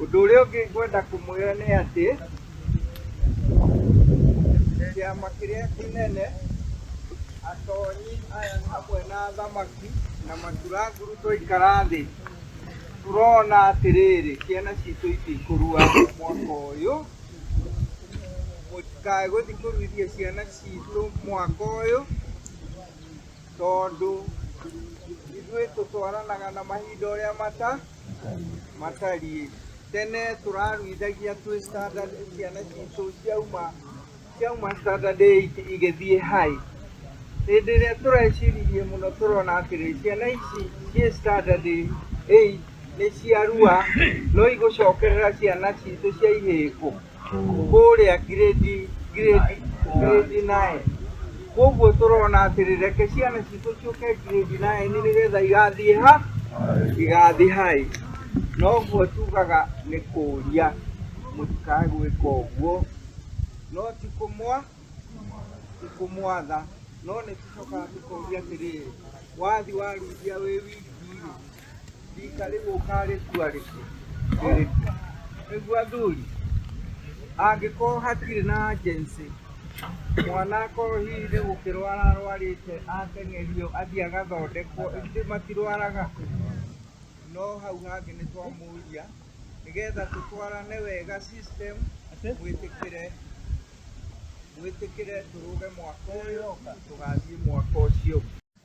Ũndũ ũrĩa ũngĩ ngwenda kũmwĩra nĩ atĩ kĩama kĩrĩa kĩnene atonyi aya hamwe na athamaki na maturanguru twaikara thĩ tũrona atĩrĩrĩ ciana citũ itikũrua mwaka ũyũ mũtikae gũthiĩ kũruithia ciana citũ mwaka ũyũ Tondũ ithuĩ tũtwaranaga na mahinda ũrĩa mata matariĩ. Tene tũraruithagia twĩ standard ciana citũ ciauma ciauma standard eight igĩthiĩ high. Hĩndĩ ĩrĩa tũreciririe mũno tũrona atĩrĩ, ciana ici ciĩ standard eight nĩ ciarua no igũcokerera ciana citũ cia ihĩĩ kũ? kũrĩa ngirĩndi ngirĩndi ngirĩndi naĩ koguo tũrona atĩrĩ reke ciana citũ ciũke ngirĩndi naĩ nĩ nĩgetha igathiĩ ha igathiĩ haĩ noguo tugaga nĩ kũria mũtikae gwĩka ũguo no ti kũmwa ti kũmwatha no nĩ tũcokaga tũkoria atĩrĩrĩ wathi waruithia wĩ wiki Rika rĩu ũkarĩtua rĩ, rĩrĩkũ? Nĩguo athuri, angĩkorwo hatirĩ na agency, mwana akorwo hihi nĩ gũkĩrwara arwarĩte, ateng'erio athiĩ agathondekwo, ithuĩ matirwaraga? No hau hangĩ nĩ twamũria, nĩgetha tũtwarane wega system, mwĩtĩkĩre mwĩtĩkĩre tũrũge mwaka ũyũ, tũgathiĩ mwaka ũcio ũngĩ.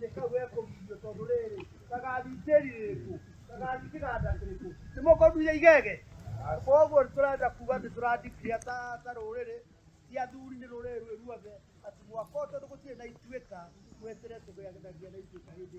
nĩ kau gekũgithio tondũ rĩrĩ ndagathitĩrirĩkũ ndagathitĩgandatĩrĩkũ nĩ mũkũndunya igege koguo tũrenda kuga atĩ tũrandikria ta ta rũrĩrĩ ti athuri nĩ rũrĩrĩ rwĩ ruothe atĩ mwaka ũyũ tondũ gũtirĩ na ituĩka mwetere tũgĩathanagia na ituĩka hĩndĩ